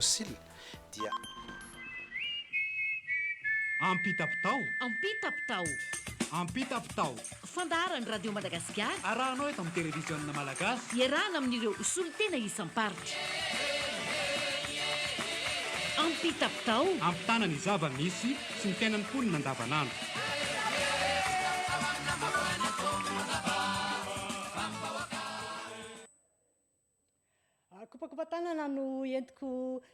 Sila, dia. Ampitapitao! Ampitapitao! Ampitapitao! Fandaharan'ny Radio Madagasikara. Arahanao eto amin'ny Televiziona Malagasy. Iarahana amin'ireo solontena isam-paritra. Ampitapitao! Ampitana ny zava-misy sy ny fiainan'ny mponina andavanandro. Kopakopan-tanana no entiko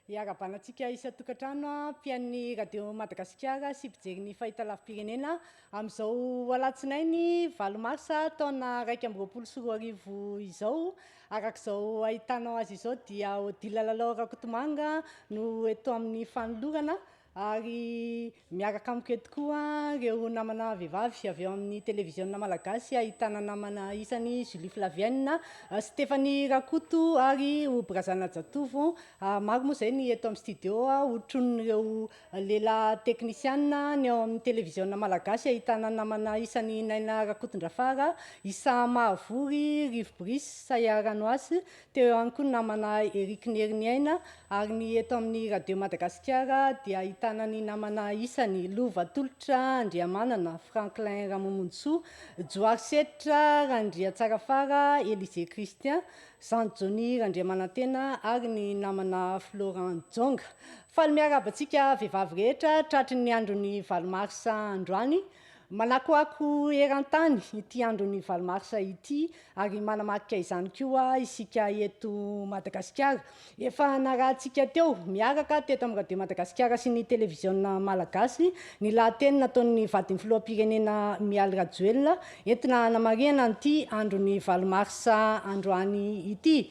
hiarahabana antsika isan-tokantrano mpihain'ny Radio Madagasikara sy mpijery ny fahitalavi-pirenena amin'izao alatsinainy valo marsa taona iraika amby roapolo sy roa arivo izao. Araka izao ahitanao azy izao dia Odile Lalao Rakotomanga no eto amin'ny fanolorana ary miaraka amiko eto koa ireo namana vehivavy avy eo amin'ny televiziona malagasy ahitana namana isany Julie Flavienne, Stephanie Rakoto ary Obrazana Jatovo. Ah, maro moa izay ny eto amin'ny studio hotronin'ireo lela teknisiana ny ao amin'ny televiziona malagasy ahitana namana isany Naina Rakotondrafara, Isa Mahavory, Rivo Brice, Saya Ranoasy Teo ihany koa ny namana Eric Nheriniaina ary ny eto amin'ny Radio Madagasikara dia ahitana ny namana isany Lova Tolotra Andriamanana, Franklin Ramomonjisoa, Johary Seditra, Randriatsarafara, Elisée Christian, Zandry Johnny Randriamanantena ary ny namana Florent Jonga. Faly miarahaba antsika vehivavy rehetra tratry ny andron'ny valo marsa androany Manakoako eran-tany ity andron'ny valo marsa ity ary manamarika izany koa isika eto Madagasikara. Efa narahantsika teo miaraka teto amin'ny Radio Madagasikara sy ny Televiziona Malagasy ny lahateny nataon'ny vadin'ny Filoham-pirenena Mialy Rajoelina entina hanamarihana an'ity andron'ny valo marsa androany ity.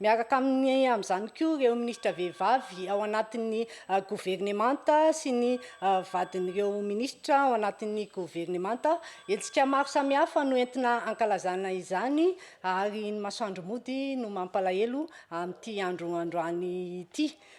Miaraka aminy amin'izany koa ireo minisitra vehivavy ao anatin'ny governemanta sy ny vadin'ireo minisitra ao anatin'ny governemanta. Hetsika maro samihafa no entina ankalazana izany ary ny masoandro mody no mampalahelo amin'ity andro androany ity.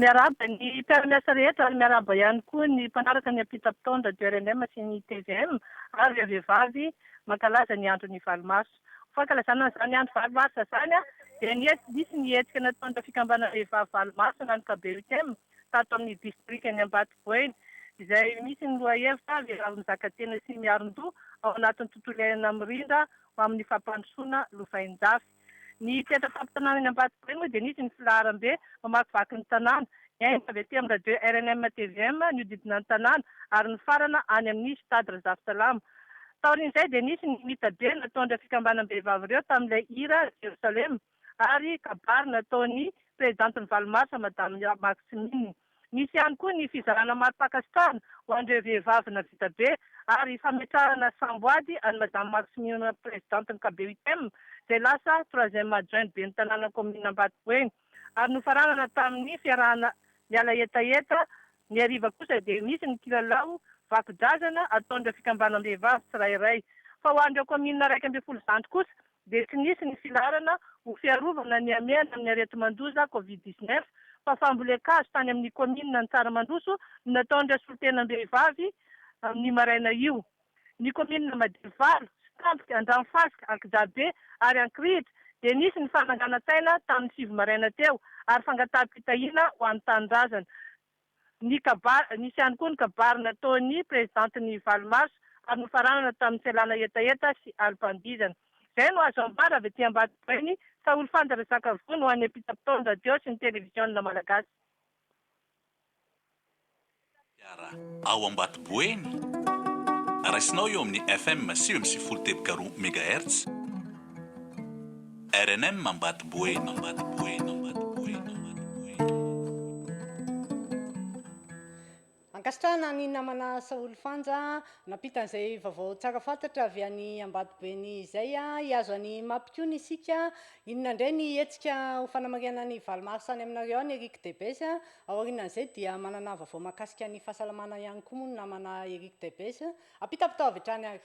Miarahaba ny mpiara-miasa rehetra ary miarahaba ihany koa ny mpanaraka ny ampitam-pitaondra du rnm sy ny tvm ary ireo vehivavy mankalaza ny andron'ny valo marsa. Ho fankalazana an'izany andro valo marsa izany dia nisy ny hetsika nataon'ireo fikambanana vehivavy valo marsa na ny KBUTM tato amin'ny distrikan'i Ambatoboina izay misy ny lohahevitra Vehivavy mizakatena sy miarindoha ao anatin'ny tontolo iainana mirindra ho amin'ny fampandrosoana lovainjafy. Ny mpiantra fampitsanana eny Ambatobe moa dia nisy ny filaharambe mamakivaky ny tanàna. Nihaino avy aty amin'ny radio rnm tvm ny hodidina ny tanàna ary nifarana any amin'ny Stade Razafisalama. Taorian'izay dia nisy ny mitabe nataon'ireo fikambanam-behivavy ireo tamin'ilay hira Jerosalema. ary kabary nataon'ny Prezidantin'ny valo marsa Madame Marx Min. Misy ihany koa ny fizarana mari-pankasitrahana ho an'ireo vehivavy navita be ary fametrahana samboady an'i Madame Marx Min Prezidantin'ny KBUTM izay lasa Troisième Adjointe Ben'ny Tanàna Kaominina Ambatoboeny ary nofaranana tamin'ny fiarahana miala hetaheta Ny hariva kosa dia misy ny kilalao vakodrazana ataon'ireo fikambanam-behivavy tsirairay fa ho an'ireo Kaominina iraika ambin'ny folo zandry kosa dia tsy nisy ny filaharana ho fiarovana ny hamehana amin'ny areti-mandoza Covid dix neuf fa fambolen-kazo tany amin'ny kaominina ny Tsaramandroso no nataon'ireo solontenam-behivavy ny maraina io. Ny kaominina Madivalo, Stampiky, Andranofasika, Ankijabe ary Ankirihitra dia nisy ny fananganan-tsaina tamin'ny sivy maraina teo ary fangataha-pitahiana ho an'ny tanindrazana. ny kabary, nisy ihany koa ny kabary nataon'ny Prezidanty ny valo marsa ary nofaranana tamin'ny fialana hetaheta sy alim-pandihizana. Izay no azo ambara avy aty Ambatobainy fa olifanja resaka vono ho an'ny ampitam-potoan'ny radio sy ny televiziona malagasy. Fiara ao Ambatoboeny, raisinao eo amin'ny FM sivy amby sivifolo teboka roa megahertz. Rnm Ambato Boeny Ambato Boeny Ambato Boeny Ambato Boeny. Ankasitrahana an'i namana Saholy Fanja nampita an'izay vaovao tsara fantatra avy any Ambato Boeny izay. Hihazo an'i Mapy koa ny isika. Inona indray ny hetsika ho fanamarihana ny valo mars any aminareo any Eric Debes? Ao aorianan'izay dia manana vaovao mahakasika ny fahasalamana ihany koa moa ny namana Eric Debes. Ampitapitao avy hatrany ary.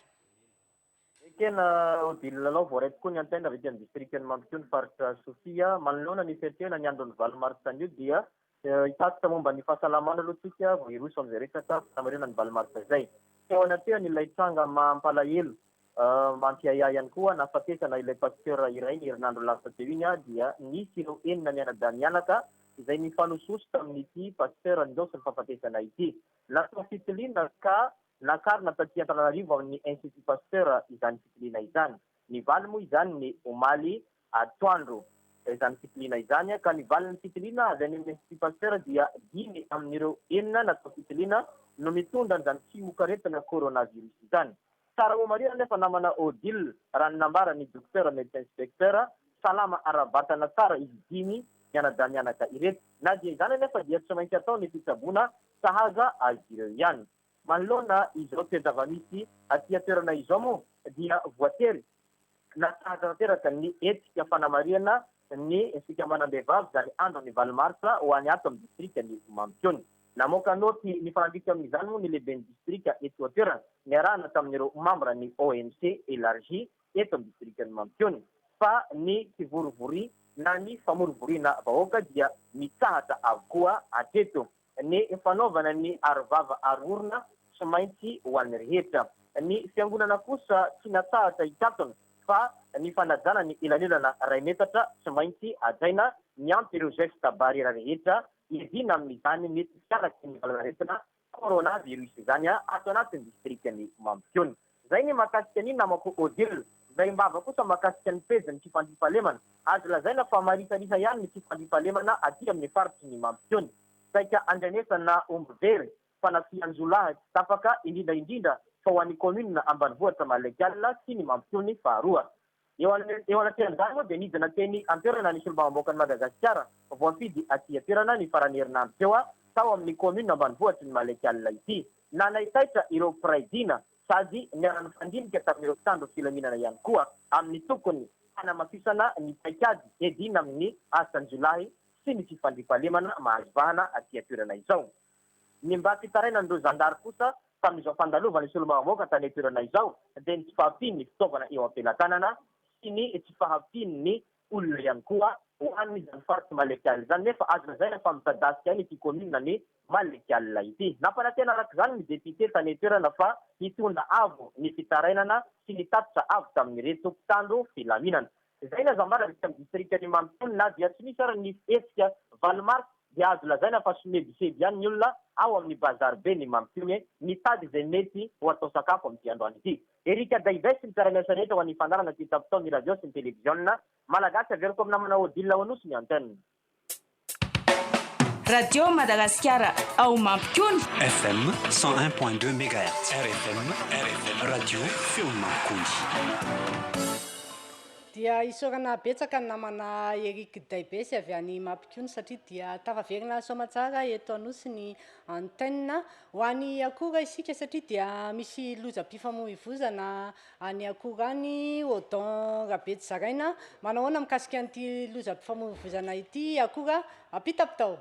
Ekena Odile Lalao voaray tokoa ny antenna avy ety amin'ny distrikan'i Mampitohy ny faritra Sofia. Manoloana ny fiatrehana ny andron'ny valo martsa anio dia hitatitra momba ny fahasalamana aloha isika vao hiroso amin'izay resaka fanamarihana ny valo martsa izay. Teo anatrehany ilay tranga mampalahelo, mampiahiahy ihany koa nahafatesana ilay pasteur iray ny herinandro lasa teo iny dia nisy ireo enina mianadahy mianaka izay nifanososo tamin'ity pasteur nindao sy nifahafatesana ity. Natao fitiliana ka Nakarina taty Antananarivo amin'ny Institut Pasteur izany fitiliana izany. Nivaly moa izany ny omaly atoandro izany fitiliana izany ka ny valin'ny fitiliana avy any amin'ny Institut Pasteur dia dimy amin'ireo enina natao fitiliana no mitondra an'izany tsimokaretina coronavirus izany. Tsara ho marihina anefa namana Odile raha ny nambaran'ny Dokotera Medecin Inspecteur, salama ara-batana tsara izy dimy mianadamianaka ireto. Na dia izany anefa dia tsy maintsy atao ny fitsaboana sahaza azy ireo ihany. Manoloana izao toe-java-misy aty an-toerana izao moa dia voatery natsahatra tanteraka ny hetsika fanamarihana ny fikambanam-behivavy izany andron'ny valo marsa ho any ato amin'ny distrikan'i Mampikony. Namoaka naoty nifanandrify amin'izany moa ny lehiben'ny distrika eto an-toerana niarahana tamin'ireo mambran'ny OMC Elargi eto amin'ny distrikan'i Mampikony fa ny kivorivoria na ny famorovoriana vahoaka dia mitsahatra avokoa hatreto. Ny fanaovana ny arovava aro orona tsy maintsy ho an'ny rehetra. Ny fiangonana kosa tsy natsahatra hikatona fa ny fanajana ny elanelana iray metatra tsy maintsy hajaina miampy ireo geste barrière rehetra iadiana amin'izany mety tsy araky ny valan'aretina coronavirus izany ato anatin'ny distrikan'i Mampikony. Zay ny mahakasika ny namako Odile. Zay mbava kosa mahakasika ny pejy ny fifandrifahalemana. Azo lazaina fa marisarisa ihany ny fifandrifahalemana aty amin'ny faritry ny mampisehoana. Saika andrenesana omby very, fanafihan-jiolahy tsy tapaka, indrindra indrindra fa ho an'ny kaominina ambanivohitra Malaikal sy ny mampiseho ny faharoa. Eo anatrehan'izany moa dia nidina teny an-toerana ny Solombavambahoakan'i Madagasikara voafidy aty an-toerana ny faran'ny herinandro teo tao amin'ny kaominina ambanivohitry ny Malek'Alina ity. Nanaitaitra ireo mpiray dina sady niara-nifandinika tamin'ireo mpitandro filaminana ihany koa amin'ny tokony hanamafisana ny paikady edina amin'ny asan-jiolahy sy ny fifandriam-pahalemana mahazo vahana aty an-toerana izao. Ny mba tsy hitarainan'ireo zandary kosa tamin'izao fandalovan'ny solombavambahoaka tany an-toerana izao dia ny tsy fahampian'ny fitaovana eo am-pelatanana sy ny tsy fahampian'ny olona ihany koa ho an'izany faritry Mallekiala izany nefa azo lazaina fa mitadasika an'ity kaominina ny Mallekiala ity. Nampanantena arak'izany ny depiote tany an-toerana fa hitondra avo ny fitarainana sy ny tatitra avy tamin'ireto mpitandro filaminana. Izay na zambara vita amin'ny distrikan'i Mampitony na dia tsy misy ary ny hetsika valo marsa dia azo lazaina fa somebiseby ihany ny olona ao amin'ny Bazariben'i Mampitony mitady izay mety ho atao sakafo amin'ity androany ity. Eric Adaives, mpiara-miasa rehetra ho an'ny fandaharana kitapo tao ny radio sy ny televiziona malagasy, averiko amina manao odile ao Anosy ny antenne. Radio Madagasikara ao Mampikony. FM 101.2 Megahertz. RFM, RFM, Radio Feon'ny Mampikony. Dia isaorana betsaka ny namana Eric Daibesy avy any Mampikony satria dia tafaverina soamantsara eto Anosy ny antenne. Ho any Akora isika satria dia misy lozam-pifamoivoizana Any Akora any, Odon Rabetsizaraina, manao ahoana mikasika an'ity lozam-pifamoivoizana ity i Akora? Ampitako tao.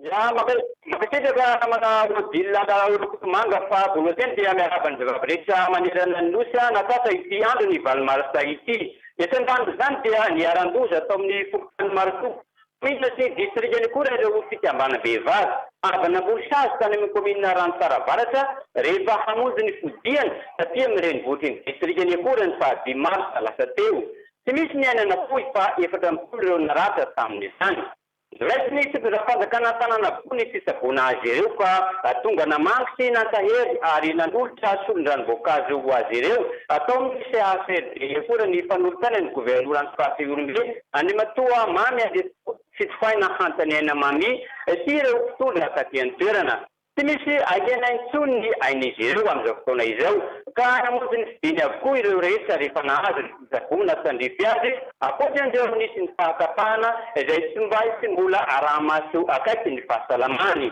Za mankasitraka namana Odile Andaraolokosomanga fa voalohany teny dia miarahaba ny vehivavy rehetra manerana ny Nosy nahatratra ity andron'ny valo marsa ity. Ny aterimbandin'izany dia niharan-doza tao amin'ny fokontany Marofoko. Kaominina sy distrikany akory ary ireo fikambanam-behivavy avy namory sazy tany amin'ny kaominina Ranotsara Avaratra rehefa hamonjy ny fodiany taty amin'ny renivohitry ny distrikany akory ny faha dimy marsa lasa teo. Tsy misy ny aina nafoy fa efatra amby folo ireo naratra tamin'izany. Noraisin'ny fitondram-panjakana an-tanàna avokoa ny fitsaboana azy ireo fa tonga namangy sy nankahery ary nanolotra solondranom-boankazo ho azy ireo tao amin'ny CHRD akory ny mpanolotsaina ny governoran'ny faritra Ihorombe, Andriamatoa Mamy Andriatsitoha, Fitohaina hantra ny aina Mamy ity ireo mpitondra taty an-toerana. Tsy misy ahiana intsony ny ain'izy ireo amin'izao fotoana izao ka namonjy ny fidiny avokoa ireo rehetra rehefa nahazo ny fitsaboana tandrify azy ankoatra an'ireo nisy ny fahatapahana izay tsy mba hisy mbola araha-maso akaiky ny fahasalamany.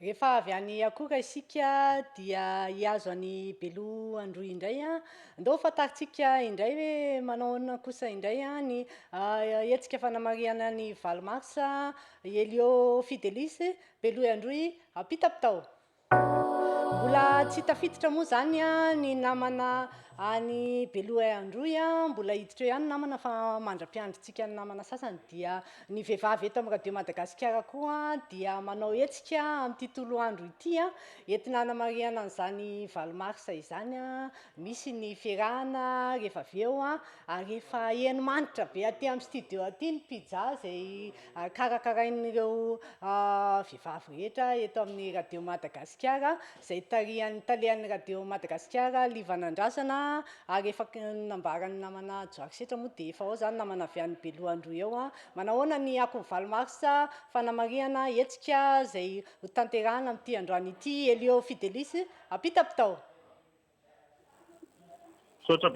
Rehefa avy any akora isika dia hihazo an'i Belo Androy indray an. Ndao fantarintsika indray hoe manao ahoana kosa indray ny hetsika fanamarihana ny valo mars. Elio Fidelis, Belo Androy, Ampitapitao. Mbola tsy tafiditra moa izany ny namana any Belo Androy. Mbola hiditra eo ihany ny namana fa mandra-piandrintsika ny namana sasany dia Ny vehivavy eto amin'ny Radio Madagasikara koa dia manao hetsika amin'ity toloandro ity entina hanamarihana an'izany valo marsa izany. Misy ny fierahana rehefa avy eo ary efa heno manitra be aty amin'ny studio aty ny pizza izay karakarain'ireo vehivavy rehetra eto amin'ny Radio Madagasikara izay tarihan'ny talehan'ny Radio Madagasikara Liva Nandrasana ary efa nambaran'ny namana Johary Setra moa dia efa ao izany namana avy any Beloha-Androy ao an, manahoana ny akon'ny valo marsa fanamarihana hetsika izay hotanterahina amin'ity androany ity Elio Fidelis, ampita bitao. Misaotra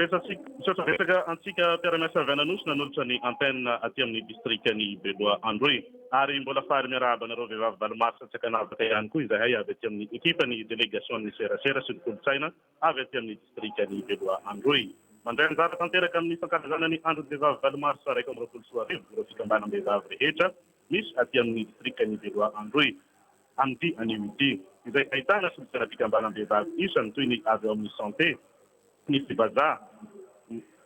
betsaka antsika mpiara-miasa avy any Anosy nanolotra ny antenne aty amin'ny distrikan'i Beloha Androy. Ary mbola faly miarahaba anareo vehivavy valo mars Antsiakanavaka ihany koa izahay avy aty amin'ny ekipan'ny delegasion'ny serasera sy ny kolontsaina avy aty amin'ny distrikan'i Beloha Androy. Mandray anjara tanteraka amin'ny fankalazana ny andron'ny vehivavy valo mars iraika amby roapolo sy roa arivo ireo fikambanam-behivavy rehetra misy aty amin'ny distrikan'i Beloha Androy. Amin'ity anio ity, izay ahitana solon-tseram-pikambanam-behivavy isany toy ny avy ao amin'ny Santé, ny Fibaja,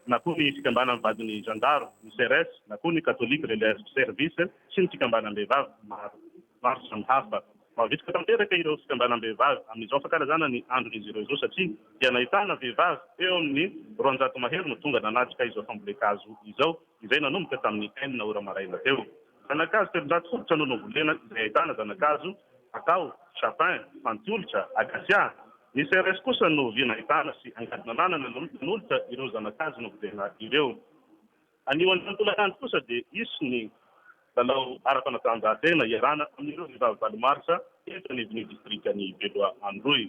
na koa ny Fikambanan'ny vadin'ny zandaro, ny Ceres, na koa ny Catholic Relais Service sy ny fikambanam-behivavy maro maro samihafa. Mavitrika tanteraka ireo fikambanam-behivavy amin'izao fankalazana ny andron'izy ireo izao satria dia nahitana vehivavy eo amin'ny roanjato mahery no tonga nanatrika izao fambolen-kazo izao izay nanomboka tamin'ny enina ora maraina teo. Zana-kazo telonjato fototra no novolena izay ahitana zana-kazo Kakao, Chapin, Fantiolitra, Acacia. Ny CRS kosa no vy nahitana sy angady nananana nanolotra ireo zana-kazo novolena ireo. Anio androany tolakandro kosa dia hisy ny lalao ara-panatanjahantena iarahana amin'ireo vehivavy valo marsa eto anivon'ny distrikan'i Beloha Androy.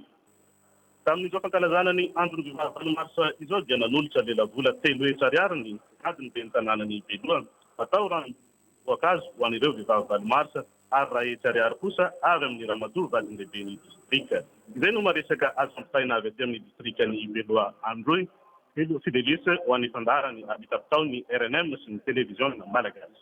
Tamin'izao fankalazana ny andron'ny vehivavy valo marsa izao dia nanolotra lelavola telo hetsy ariary ny gadon'ny ben'ny tanànan'i Beloha atao ranom-boankazo ho an'ireo vehivavy valo marsa ary iray hetsy ariary kosa avy amin'ny ramatoa vazin-dehiben'ny distrika. Izay no maresaka azo ampitaina avy aty amin'ny distrikan'i Beloha Androy. Helo sy délices ho an'ny fandaharan'ny arbitabitaon'ny rnm sy ny televiziona malagasy.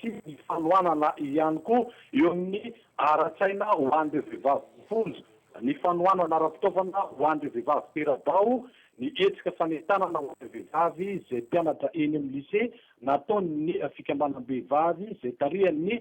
sy ny fanohanana ihany koa eo amin'ny ara-tsaina ho an'ireo vehivavy voafonja, ny fanohanana ara-pitaovana ho an'ireo vehivavy tera-bao, ny hetsika fanentanana ho an'ireo vehivavy izay mpianatra eny amin'ny lisea nataon'ny fikambanam-behivavy izay tarihan'ny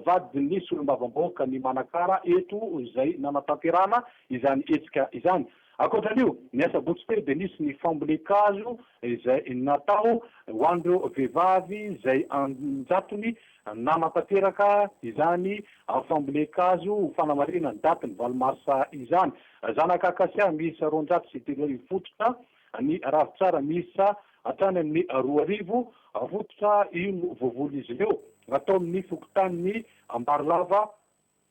vadin'ny solombavambahoaka ny Manakara eto izay nanatanterahana izany hetsika izany. Ankoatra an'io, ny asabotsy teo dia nisy ny fambolen-kazo izay natao ho an'ireo vehivavy izay an-jatony nanatanteraka izany fambolen-kazo ho fanamarihana ny daty ny valo marsa izany. Zanaka akasia miisa roanjato sy telo arivo fototra, ny ravintsara miisa hatrany amin'ny roa arivo fototra, io no voavonon'izy ireo tao amin'ny fokontanin'i Ambarilava.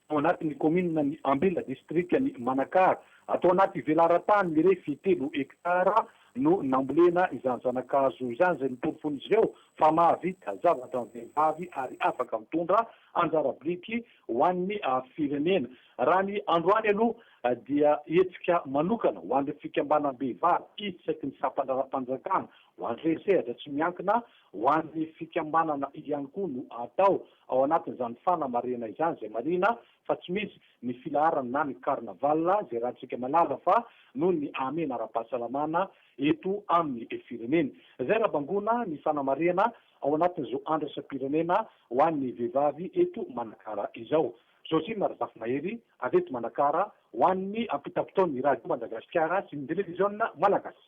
Tao anatin'ny kaominina ny Ambela distrikan'i Manakara, ato anaty velaran-tany mirefy telo hektara no nambolena izany zana-kazo izany izay noporofoin'izy ireo fa mahavita zavatra ny vehivavy ary afaka mitondra anjara biriky ho an'ny firenena. Raha ny androany aloha dia hetsika manokana ho an'ireo fikambanam-behivavy isaky ny sampan-draharaham-panjakana ho an'ireo sehatra tsy miankina ho an'ny fikambanana ihany koa no atao. Ao anatin'izany fanamarihana izany izay marihina fa tsy misy ny filaharana na ny carnaval izay ratsika malala fa noho ny ahamena ara-pahasalamana eto amin'ny firenena. Izay raha bangoina ny fanamarihana ao anatin'izao andraisam-pirenena ho an'ny vehivavy eto Manakara izao. Josina Razafimahery avy eto Manakara ho an'ny ampitapitaon'ny Radio Madagasikara sy ny Televiziona Malagasy.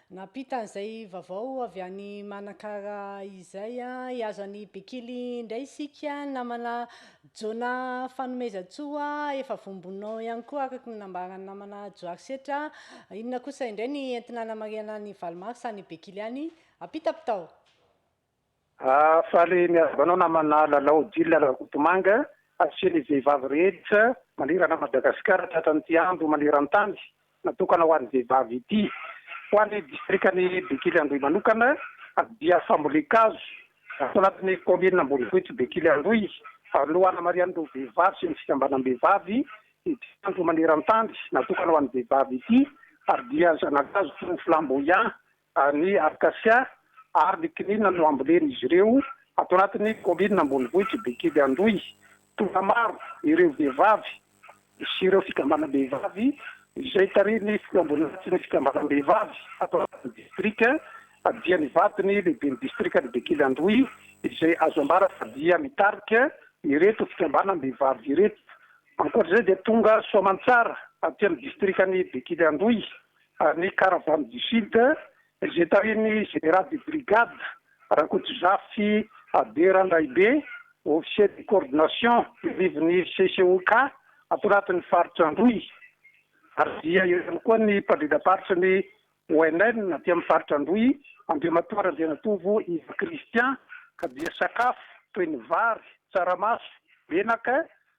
Nampita an'izay vavao avy any Manakara izay i Azo an'i Bekily indray isika namana Jona Fanomezantsoa efa vombonao ihany koa araka ny nambaran'ny namana Johary Setra inona kosa indray ny entina hanamarihana an'i Valimars any Bekily any? Ampita mpitao! Faly miarahaba anao namana Lalao Odile Rakotomanga sy ny vehivavy rehetra manerana an'i Madagasikara tratran'ity andro maneran-tany natokana ho an'ny vehivavy ity. Ho an'ny distrikan'i Bekily-Androy manokana dia fambolen-kazo ato anatin'ny kaominina ambonivohitry Bekily-Androy no hanamarihan'ireo vehivavy sy ny fikambanam-behivavy ity andro maneran-tany natokana ho an'ny vehivavy ity ary dia zana-kazo toy ny flamboyant ny arkasia ary ny kinina no ambolen'izy ireo ato anatin'ny kaominina ambonivohitr'i Bekidy Androy. Tonga maro ireo vehivavy sy ireo fikambanam-behivavy izay tarihin'ny filoham-boninahitry ny fikambanam-behivavy ato anatin'ny distrika dia nivato ny lehiben'ny distrikan'i Bekily Androy izay azo ambara fa dia mitarika ireto fikambanam-behivavy ireto. Ankoatra izay dia tonga soamantsara aty amin'ny distrikan'i Bekily Androy ny Caravane du Sud izay tarihin'ny Général de Brigade Rakotozafy Abe Randraibe, Officier de Coordination teo anivon'ny CCOK ato anatin'ny Faritra Androy ary dia eo ihany koa ny Mpandrindram-paritry ny ONN aty amin'ny Faritra Androy, Andriamatoa Randrianatovo Yves Christian ka dia sakafo toy ny vary, tsaramaso, menaka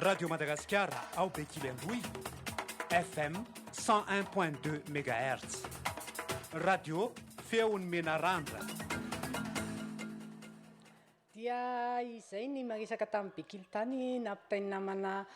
Radio Madagasikara ao Bekily Androy, FM 101.2 MHz. Radio Feon'ny Menarandra. Dia izay ny maresaka tamin'ny Bekily tany nampitain'ny namana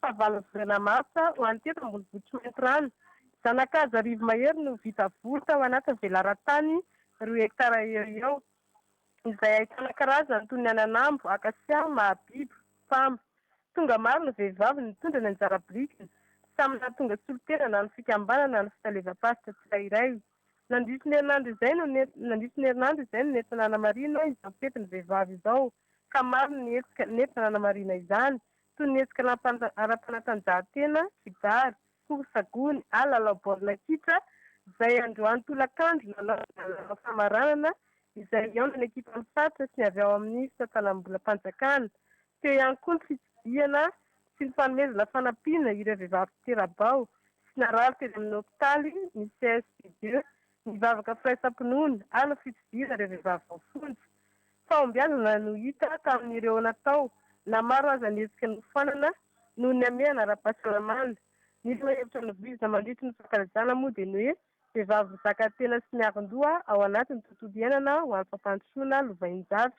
Fahavalo volana martsa, ho an'ny teto ambonivohitr'i Maintirano, zana-kazo arivo mahery no vita voly tao anatin'ny velaran-tany roa hektara eo eo, izay ahitana karazany toy ny ananambo, akasia, mahabibo, pamba. Tonga maro ny vehivavy nitondra ny anjara birikiny, samy nahatonga solontenana ny fikambanana ny fitalevam-paritra tsirairay. Nandritry ny herinandro izay no nandritry ny herinandro izay no nentina nanamarina izao fetin'ny vehivavy izao, ka maro ny hetsika nentina nanamarina izany, toy ny hetsika ara-panatanjahantena, kibary, korsa gony ary lalao baolina kitra izay androany tolakandro nanaovana lalao famaranana izay hihaonan'ny ekipan'ny faritra sy ny avy ao amin'ny fitantanam-bolam-panjakana. Teo ihany koa ny fitsidihana sy ny fanomezana fanampiana ireo vehivavy tera-bao sy narary teny amin'ny hopitaly ny CHSCT Dieu Nivavaka firaisam-pinoana, ary ny fitsidiana ireo vehivavy voafonja. Fahombiazana no hita tamin'ireo natao, na maro aza ny hetsika nofoanana noho ny hamehana ara-pahasalamana. Ny lohahevitra novoizina mandritry ny fankalazana moa dia ny hoe Vehivavy mizakatena sy miavon-doha ao anatin'ny tontolo iainana ho an'ny fampandrosoana lovain-javy.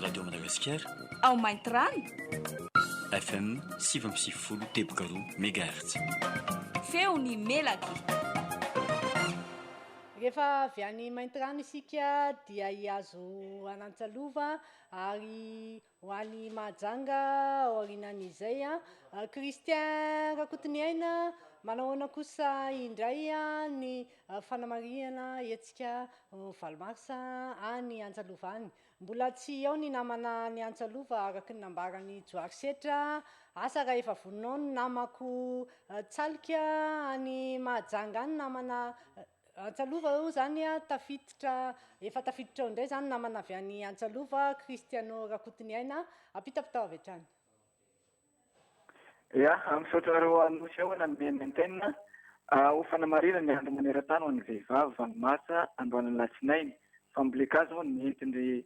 Radio Madagasikara. Ao Maintirano. FM sivy amby sivifolo teboka roa mégahertz. Feon'ny melaky. Rehefa avy any Maintirano isika dia hihazo an'Antsalova ary ho any Mahajanga aorianan'izay. Christian Rakotoniaina, manao ahoana kosa indray ny Fanamarihana, Hetsika valo marsa any Antsalova any. Mbola tsy ao ny namana any Antsalova araka ny nambaran'i Johary Setra. Asa raha efa voninao ny namako Tsalika any Mahajanga any namana Antsalova eo izany tafiditra efa tafiditra ao indray izany namana avy any Antsalova Christiano Rakotoniaina. Ampitapitao avy hatrany. Ya, misaotra anareo Anosy ao nanome ny antenne ho fanamarinana ny andro maneran-tany ho an'ny vehivavy valo martsa androany alatsinainy. Fambolen-kazo izao no nentin-dry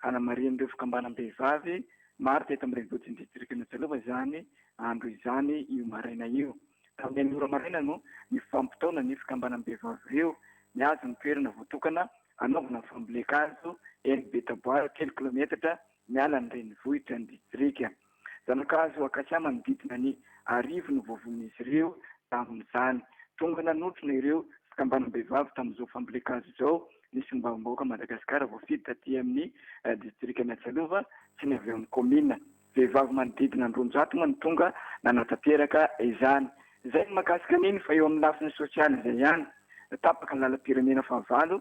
hanamarin'ireo fikambanam-behivavy maro teto amin'ny renivohitr'i ny distrikan'i Antsalova izany andro izany io maraina io. Tamin'ny enina ora maraina no nifampitaona ny fikambanam-behivavy ireo nihazo ny toerana voatokana hanaovana ny fambolen-kazo eny Betaboara telo kilometatra Miala ny renivohitra ny distrika. Zanakazo akasia manodidina ny arivo no voavonin'izy ireo tamin'izany. Tonga nanotrona ireo fikambanam-behivavy tamin'izao fambolen-kazo izao ny solombavambahoaka Madagasikara voafidy taty amin'ny distrikan'i Atsialova sy ny avy ao amin'ny kaominina. Vehivavy manodidina ny roanjato moa no tonga nanatanteraka izany. Izay ny mahakasika an'iny fa eo amin'ny lafiny sosialy izay ihany. Tapaka ny lalam-pirenena fahavalo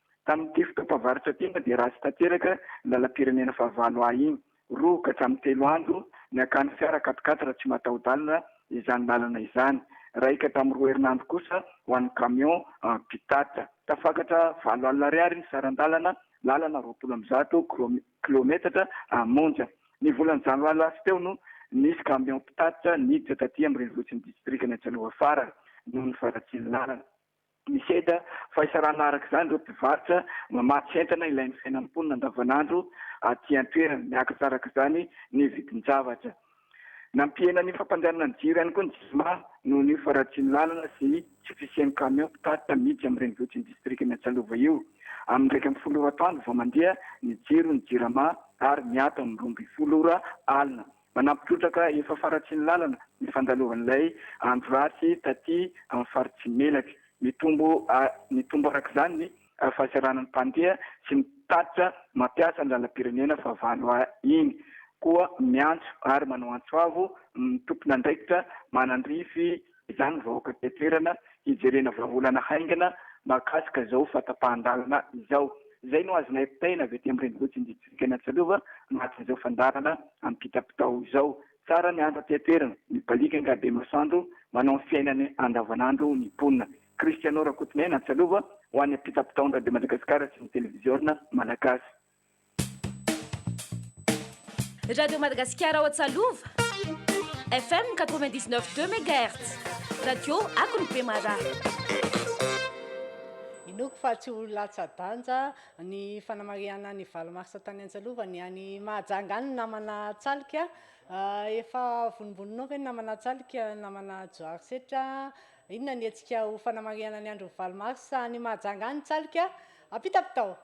Tamin'ity fotoam-pavaritra ity moa dia ratsy tanteraka ny lalam-pirenena fahavalo A iny. Roa ka hatramin'ny telo andro niakan'ny fiara quat-quatre raha tsy mataho-dalana izany lalana izany. Raika tamin'ny roa herinandro kosa ho an'ny camion mpitatitra. Tafakatra valo alina ariary ny saran-dalana, lalana roapolo amby zato kilaometatra monja. Ny volana janoary lasa teo no nisy camion mpitatitra niditra taty amin'ny renivohitry ny distrikan'i Antsanoa Fara noho ny faharatsian'ny lalana. Nisedra fahaisarana araka izany ireo mpivarotra mamatsy entana ilain'ny fiainan'ny mponina andavanandro aty an-toerana. Niakatra araka izany ny vidin-javatra. Nampihena ny fampandehanana ny jiro ihany koa ny Jirama noho ny faharatsian'ny lalana sy tsy fisian'ny kamiao mpitatitra miditra amin'ny renivohitr'i ny distrika Miantsalova io. Amin'ny iraika ambin'ny folo ora atoandro vao mandeha ny jiron'ny Jirama ary miato amin'ny roa ambin'ny folo ora alina. Manampy trotraka efa faratsian'ny lalana ny fandalovan'ilay andro ratsy taty amin'ny faritsy Melaky. Mitombo mitombo araka izany ny fahasahiranan'ny mpandeha sy ny mpitatitra mampiasa ny lalam-pirenena fahavalo A iny. Koa miantso ary manao antso avo ny tompon'andraikitra manandrify. izany ny vahoaka aty an-toerana hijerena vahaolana haingana mahakasika izao fahatapahan-dalana izao. Izay no azonay potaina avy aty amin'ny renivohitr'i Distrika ny Antsalova mahatoy izao fandalana amim-pitapitao izao. Tsara ny andro aty an-toerana, mibaliaka angaha be masoandro manao ny fiainany andavanandro ny mponina. Christiano Rakotonena, Antsalova, ho an'ny Ampitapitaon-dRabe Madagasikara sy ny Televiziona Malagasy. Radio Madagasikara ao Antsalova, FM 99 2 megahertz, radio akony Bemaraha. Inoako fa tsy ho latsa-danja ny fanamarihana ny valo marsa tany Antsalova ny any Mahajanga any namana Tsalika. Ah, efa vonimboninao ve ny namana Tsalika, namana Johary Setra? Inona ny hetsika ho fanamarihana ny andron'ny valo marsa any Mahajanga any Tsalika? Ampita avy tao!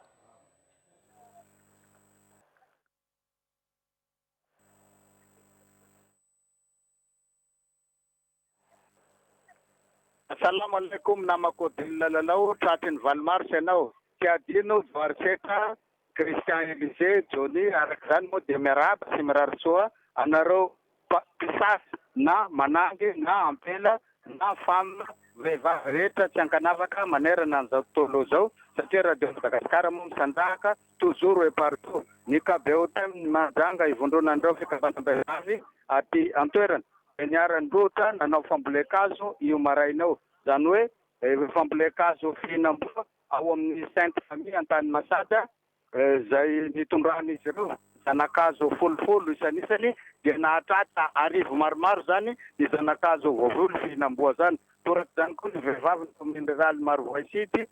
Salam alaikum namako Odile Lalao tratry ny valo mars ianao tsy adino Johary Setra, Christian Elisée, Johnny araka izany moa dia miarahaba sy mirary soa anareo mpisasa na manangy na ampela na femme, vehivavy rehetra tsy ankanavaka manerana an'izao tontolo izao satria Radio Madagascar moa misandrahaka toujours et partout ny KBOTM ny Mahajanga ivondronan'ireo fikambanam-behivavy aty an-toerana dia niara-nirohotra nanao fambolen-kazo io maraina io izany hoe fambolen-kazo fihinam-boa ao amin'ny Sainte Famille Antanimasaka izay nitondran'izy ireo zana-kazo folofolo isanisany dia nahatratra arivo maromaro izany ny zana-kazo voavolo fihinam-boa izany. Toraka izany koa ny vehivavin'ny kaominina riraliny Marovoay-Sud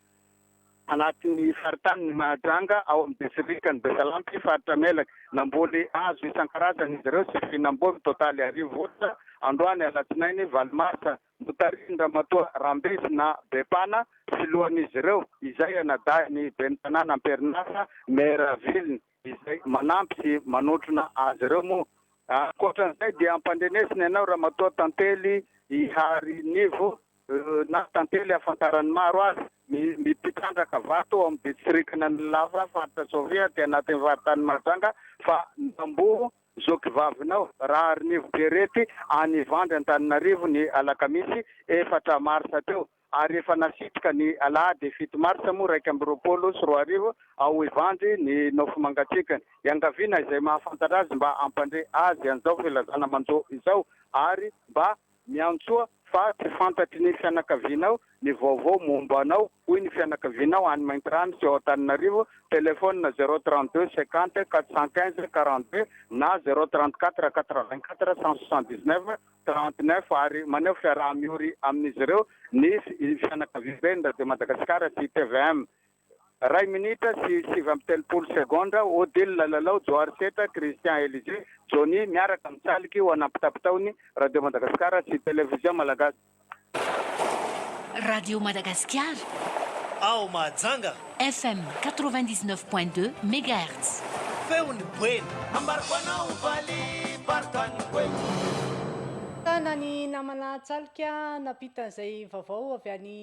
anatin'ny faritanin'i Mahajanga ao amin'ny distrikan'i Besalampy faritra Melaky. Namboly hazo isan-karazany izy ireo sy fihinam-boa mitotaly arivo orsa androany alatsinainy valo marsa. notarihin-dRamatoa Rambesina Bepana filohan'izy ireo, izay anadahin'ny ben'ny tanàna am-perinasa, Maire Aveliny, izay manampy sy manotrona azy ireo moa. Ankoatran'izay dia ampandrenesina ianao Ramatoa Tantely Iharinivo na Tantely ahafantaran'ny maro azy, ny mpitrandraka vato ao amin'ny distrikan'Anilava, faritra Sofia, aty anatin'ny faritany Mahajanga, fa namboho Zoky vavinao, Raharinivo Pierrette any Ivandry Antananarivo ny alakamisy efatra marsa teo ary efa nasitrika ny alahady fito marsa moa iraika amby roapolo sy roa arivo ao Ivandry ny nofo mangatsiakany. Iangaviana izay mahafantatra azy mba hampandre azy an'izao filazana manjo izao ary mba Miantsoa fa tsy fantatry ny fianakavianao ny vaovao momba anao, hoy ny fianakavianao any Maintirano sy ao Antananarivo, telefaonina zéro trente deux cinquante quatre cent quinze quarante deux na zéro trente quatre quatre vingt quatre cent soixante dix neuf trente neuf ary maneho fiaraha-miory amin'izy ireo ny fianakaviamben'ny Radio Madagasikara sy tvm. Iray minitra sy sivy amby telopolo segondra, Odile Lalao, Johary Setra, Christian Elisée, Johnny, miaraka amin'ny saliky ho an'ampitapitaon'ny Radio Madagasikara sy Television Malagasy. Radio Madagasikara. Ao Mahajanga. FM quatre-vingt-dix-neuf point deux megahertz. Feon'ny boeny. Ambarako anao valy varotan'ny boeny. Tana ny namana Tsaloka nampita izay vaovao avy any.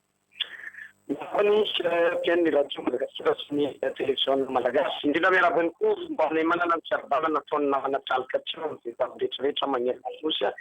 Miarahaba ny mpihaino ny Radio Madagasikara sy ny Televiziona Malagasy. Indrindra miarahaba ihany koa ny Mpaminay-manana ny fiarovana nataon'ny namana tralika teo amin'ny vehivavy rehetrarehetra manerana ny Nosy.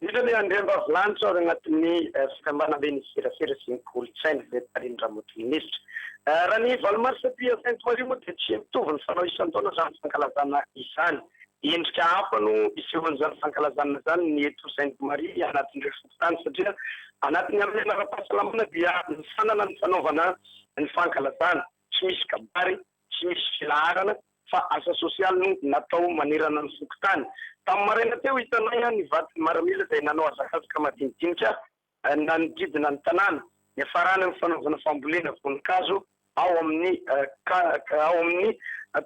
Indrindra ny Andriambavilanitra ao anatin'ny Fikambanambe ny Serasera sy ny Kolontsaina izay tarihin'i Ramatoa Minisitra. Raha ny valo marsa aty Sainte Marie moa dia tsy mitovy ny fanao isan-taona izany fankalazana izany. Endrika hafa no isehoan'izany fankalazana izany ny eto Sainte Marie anatin'ireo tany satria anatin'ny harena ara-pahasalamana dia nisanana ny fanaovana ny fankalazana, tsy misy kabary, tsy misy filaharana fa asa sosialy no natao manerana ny fokontany. Tamin'ny maraina teo hitanay ny vadin'ny maramila izay nanao hazakazaka madinidinika nanodidina ny tanàna, niafarana ny fanaovana fambolena voninkazo. ao amin'ny ao amin'ny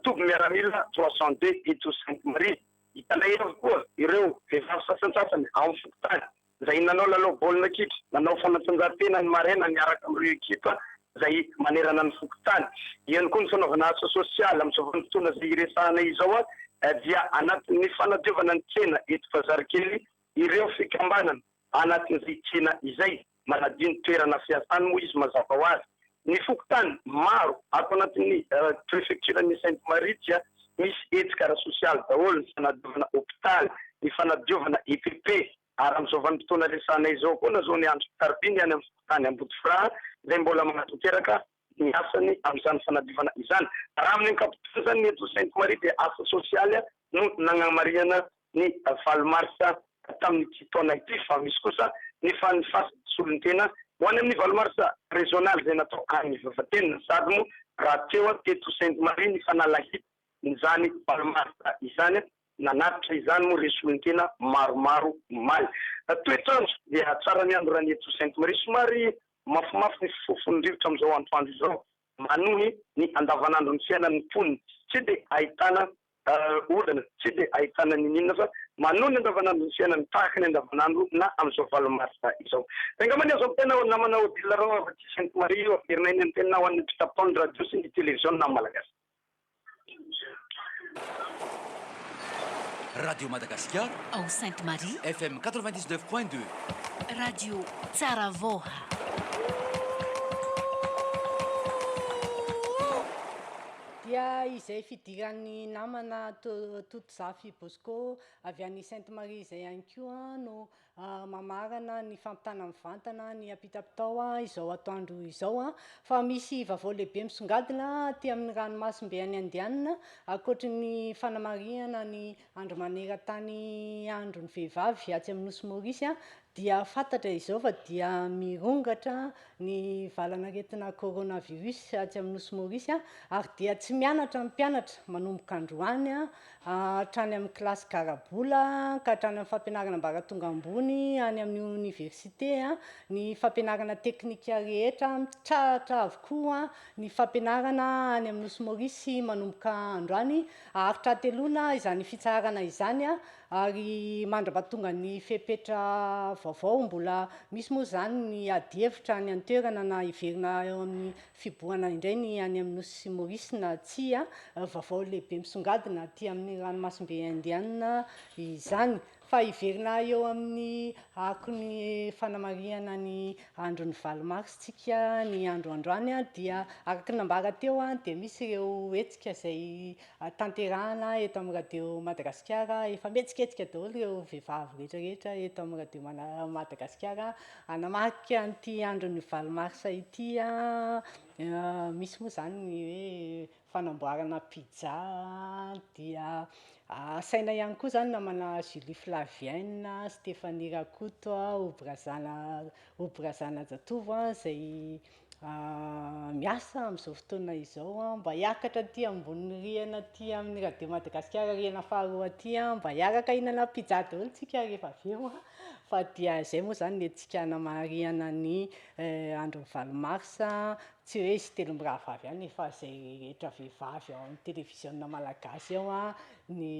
toby miaramila trois cent deux eto Sainte Marie. Hitanay avy koa ireo vehivavy sasantsasany ao amin'ny fokontany izay nanao lalao baolina kitra, nanao fanatanjahantena ny maraina niaraka amin'ireo ekipa izay manerana ny fokontany. Eo koa ny fanaovana asa sosialy. Amin'izao vanim-potoana izay iresahanay izao dia anatin'ny fanadiovana ny tsena eto Bazarikely ireo fikambanana anatin'izay tsena izay. Manadio ny toerana fiasany moa izy mazava ho azy. Ny fokontany maro ato anatin'ny prefektiran'i Sainte Marie dia misy hetsika ara-sosialy daholo, ny fanadiovana hopitaly, ny fanadiovana EPP, ary amin'izao vanim-potoana resahanay izao koa na zao ny andro Karby ny any amin'ny fokontany Ambodifraha izay mbola manatanteraka ny asany amin'izany fanadiovana izany. Raha amin'ny ankapobeny izany, ny eto Sainte Marie dia asa sosialy no nagnamarihana ny valo marsa tamin'ity taona ity fa misy kosa ny fanfasa solon-tena ho any amin'ny valo marsa rezionaly izay natao any Vavatena sady moa raha teo teto Sainte Marie ny fanalahidiny Izany Balmasta izany, nanatitra izany moa ireo solontena maromaro omaly. Toetr'andro dia tsara ny andro raha ny eto Sainte Marie. Somary mafimafy ny fifofon'ny rivotra amin'izao antoandro izao manohy ny andavanandron'ny fiainan'ny mponina. Tsy dia ahitana olana, tsy dia ahitana n'inon'inona fa manohy ny andavanandron'ny fiainany tahaka ny andavanandro na amin'izao valo marsa izao. Dia angamba ny azo antenaina ao namana Odile Rao avy aty Sainte Marie io, averinay ny antenina ho an'ny mpitapon ny radio sy ny televiziona malagasy. Radio Madagasikara ao Sainte Marie, FM 99 point 2. Radio tsara vaoha. Dia izay fidiran'ny namana Totozafy Bosco avy any Sainte Marie izay ihany koa no mamarana ny fampitana mivantana ny ampitapitao izao atoandro izao fa misy vavao lehibe misongadina aty amin'ny ranomasimbe any Indiana ankoatry ny fanamarihana ny andro maneran-tany andron'ny vehivavy atsy amin'ny nosy Maurice dia fantatra izao fa dia mirongatra ny valan'aretina coronavirus atsy amin'ny nosy Maurice ary dia tsy mianatra ny mpianatra manomboka androany hatrany amin'ny kilasy garabola ka hatrany amin'ny fampianarana ambaratonga ambony any amin'ny oniversite, ny fampianarana teknika rehetra mitrahatra avokoa ny fampianarana any amin'ny Nosy Maorisy manomboka androany. Haharitra hateloana izany fitsaharana izany ary mandra-pahatonga ny fepetra vaovao, mbola misy moa izany ny adihevitra any an-toerana na hiverina eo amin'ny Fibohana indray ny any amin'ny Nosy Maurice na tsia, vaovao lehibe misongadina aty amin'ny ranomasimbe Indiana izany. Fa hiverina eo amin'ny akon'ny fanamarihana ny andron'ny valo mars tsika ny andro androany dia araka ny nambara teo dia misy ireo hetsika izay tanterahana eto amin'ny radio Madagasikara efa mihetsiketsika daholo ireo vehivavy rehetrarehetra eto amin'ny radio Madagasikara Hanamarika an'ity andron'ny valo marsa ity an, misy moa izany ny hoe fanamboarana pizza an, dia asaina ihany koa izany namana Julie Flavienne, Stéphanie Rakoto, Obrazana Obrazana Jatovo an, izay miasa amin'izao fotoana izao mba hiakatra aty ambony rihana aty amin'ny Radio Madagasikara rihana faharoa aty mba hiaraka hihinana pizza daholo isika rehefa avy eo fa dia izay moa izany ny hetsika namarihana ny andron'ny valo marsa tsy hoe izy telo mirahavavy ihany fa izay rehetra vehivavy ao amin'ny televiziona malagasy ao ny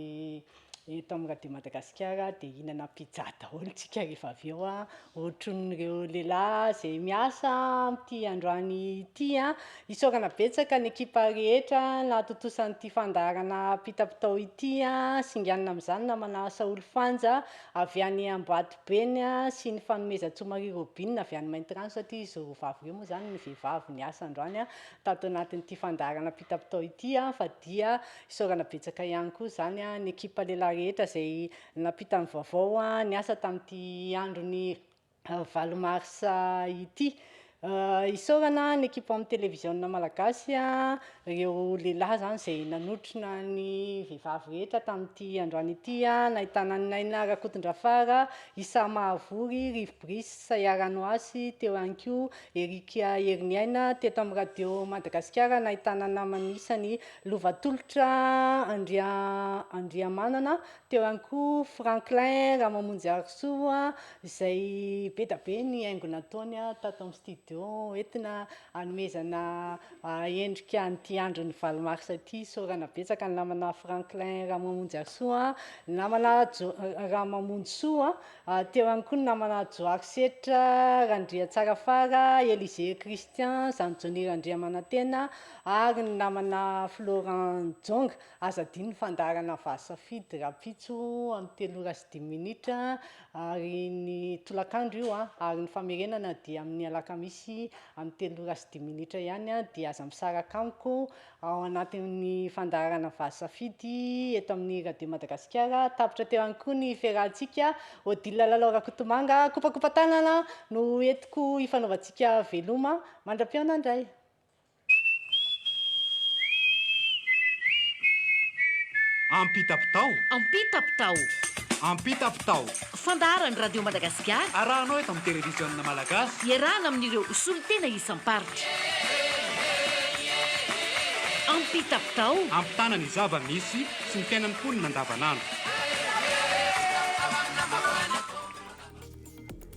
Eto amin'ny Radio Madagasikara dia hihinana pizza daholo isika rehefa avy eo a, ohatrin'ireo lehilahy izay miasa amin'ity androany ity a. Isaorana betsaka ny ekipa rehetra nahatontosa an'ity fandaharana pita-pitao ity a. Singanina amin'izany namana Saholy Fanja avy any Ambohibeny a, sy ny fanomezantsoa Marie Robine avy any Maintirano satria izy roa vavy ireo moa izany ny vehivavy niasa androany a, tato anatin'ity fandaharana pita-pitao ity a, fa dia Isaorana betsaka ihany koa izany ny ekipa lehilahy rehetra izay nampita ny vaovao niasa tamin'ity andron'ny valo marsa ity. Isaorana ny ekipa amin'ny televiziona malagasy, ireo lehilahy izany izay nanotrona ny vehivavy rehetra tamin'ity androany ity, nahitana an'i Naina Rakotondrafara, Isa Mahavory, Rivo Brice, Saia Ranoasy, teo ihany koa Eric Heriniaina, teto amin'ny Radio Madagasikara nahitana namany isany Lovatolotra Andria Andriamanana, teo ihany koa Franklin Ramamonjiarisoa izay be dia be ny haingo nataony tato amin'ny studio entina hanomezana endrika an'ity andron'ny valo mars ity. Isaorana betsaka ny namana Franklin Ramamonjiarisoa, ny namana Jo- Ramamonjisoa, teo ihany koa ny namana Johary Setra, Randriatsarafara, Elisée Christian, Zandriny Randriamanantena, Ary ny namana Florent Djonga, aza adino ny fandaharana Vah Safidy rahampitso amin'ny telo ora sy dimy minitra ary ny tolakandro io ary ny famerenana dia amin'ny alakamisy amin'ny telo ora sy dimy minitra ihany dia aza misaraka amiko ao anatin'ny fandaharana Vah Safidy eto amin'ny Radio Madagasikara. Tapitra teo ihany koa ny fiarahantsika Odile Lalao Rakotomanga. Kopakopa-tanana no entiko hifanaovantsika veloma. Mandra-pihaona indray. Ampitapitao. Ampitapitao. Ampitapitao. Fandaharan'ny Radio Madagasikara. Arahanao eto amin'ny Televiziona Malagasy. Iarahana amin'ireo solontena isam-paritra. Ampitapitao. Ampitana ny zava-misy sy ny fiainan'ny mponina andavanandro.